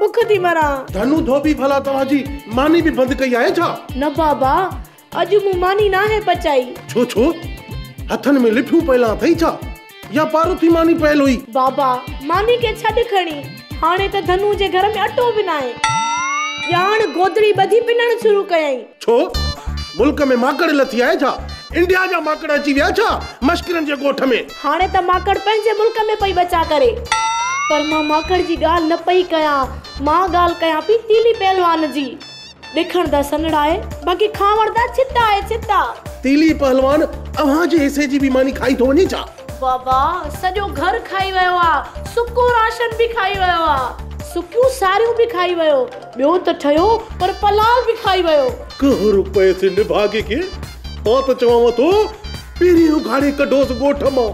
بک ٿي مران. ڌنو ڌوٻي ڀلا توهان جي ماني به بند ڪئي آهي ڇا؟ نه بابا اڄ مون ماني ناهي پچائي. ڇو ڇو هٿن ۾ لٺيون پيل اٿئي ڇا يا پارو ٿي ماني پيل هئي؟ بابا ماني کي ڇڏ کڻي هاڻي ته ڌنو جي گهر ۾ اٽو به ناهي. ڄاڻ گودڙي ٻڌي پنڻ شروع ڪيائين. ڇو ملڪ ۾ ماڪڙ لٿي آهي ڇا؟ انڊيا جا ماڪڙ اچي ويا ڇا مشڪرن جي ڳوٺ ۾. هاڻي ته ماڪڙ پنهنجي ملڪ ۾ پئي ٻچا ڪري. پر مان ماڪڙ جي ڳالهه نه پئي ڪيان. مان ڳالهه ڪيان پئي تيلي پهلوان جي. ڏکڻ ته سنڙ آهي، باقي کاوڙ ته ڇتا آهي ڇتا. تيلي پهلوان اوهان جي حصي جي به ماني کائي ٿو وڃي ڇا؟ بابا سڄو گهر کائي ويو آ. سڪو راشن به کائي ويو آ. سڪيون ساريون به کائي ويو. ٻيو ته ٺهيو پر پلال به کائي ويو. ڪهر پئي سي نڀاڳي کي. مان ته چوانو ٿو پهرين اگهاڙي ڪڍوس ڳوٺ مان،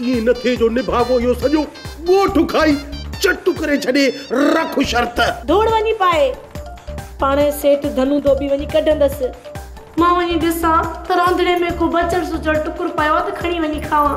ائين نه ٿئي جو نڀاڳو اهو سڄو ڳوٺ کائي چٽ ڪري ڇڏي، رک شرط. ڌوڙ وڃي پائي، پاڻ سيٺ ڌنو ڌوٻي وڃي ڪڍندس. مان وڃي ڏسان ته رانڌڻي ۾ ڪو بچڙ سچڙ ٽڪر پيو آهي ته کڻي وڃي کاوان.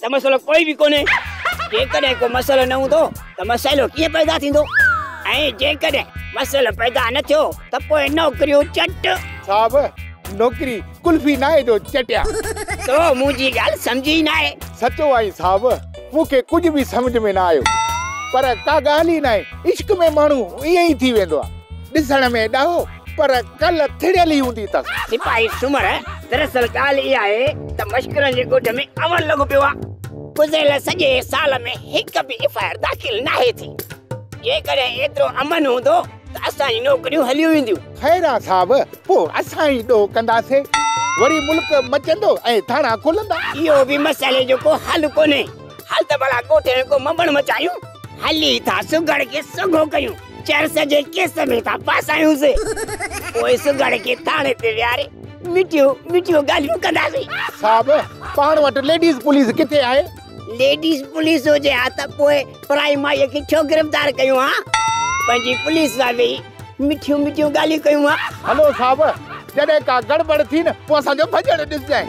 ته مسئلو ڪوئي به ڪونهي. جيڪڏهن ڪو مسئلو نه هوندو ته مسئلو ڪيئن پيدا ٿيندو ۽ جيڪڏهن مسئلو پيدا نه ٿيو ته پوء نوڪريون چٽ. صاحب نوڪري قلفي ناهي جو چٽيا. تو منهنجي ڳالهه سمجهي ئي ناهي. سچو آهين صاحب مون کي ڪجهه به سمجهه ۾ نه آيو. پر ڪا ڳالهه ئي ناهي عشق ۾ ماڻهو ائين ئي ٿي ويندو آهي ڏسڻ ۾ ڏاهو پر ڪل ٿڙيل ئي هوندي اٿس. سپاهي سومر، دراصل ڳالهه اها آهي ته مشڪرن جي ڳوٺ ۾ عمل لڳو پيو آهي. گذريل سڄي سال ۾ هڪ به ايف آء آر داخل ناهي ٿي. جيڪڏهن ايترو امن هوندو ته اسان جون نوڪريون هليون وينديون. خيران صاحب، پوء اسان ئي ڏوهه ڪنداسين. وري ملڪ مچندو ۽ ٿاڻا کلندا. اهو به مسئلي جو ڪو حل ڪونهي. هل ته ڀلا ڳوٺ ۾ ڪو مٻڻ مچايون. هلي ٿا سگهڙ کي سگهو ڪيون. چرس جي ڪيس ۾ ٿا ڦاسايونسين، پوء سگهڙ کي ٿاڻي تي ويهاري مٺيون مٺيون ڳالهيون ڪنداسين. صاحب، پاڻ وٽ ليڊيز پوليس ڪٿي آهي؟ ليڊيز پوليس هجي ها ته پوء پرائي مائيء کي ڇو گرفتار ڪيون ها؟ پنهنجي پوليس سان ويهي مٺيون مٺيون ڳالهيون ڪيون ها. هلو صاحب، جڏهن ڪا گڙٻڙ ٿي نه، پوء اسان جو ڀڄڻ ڏسجانء.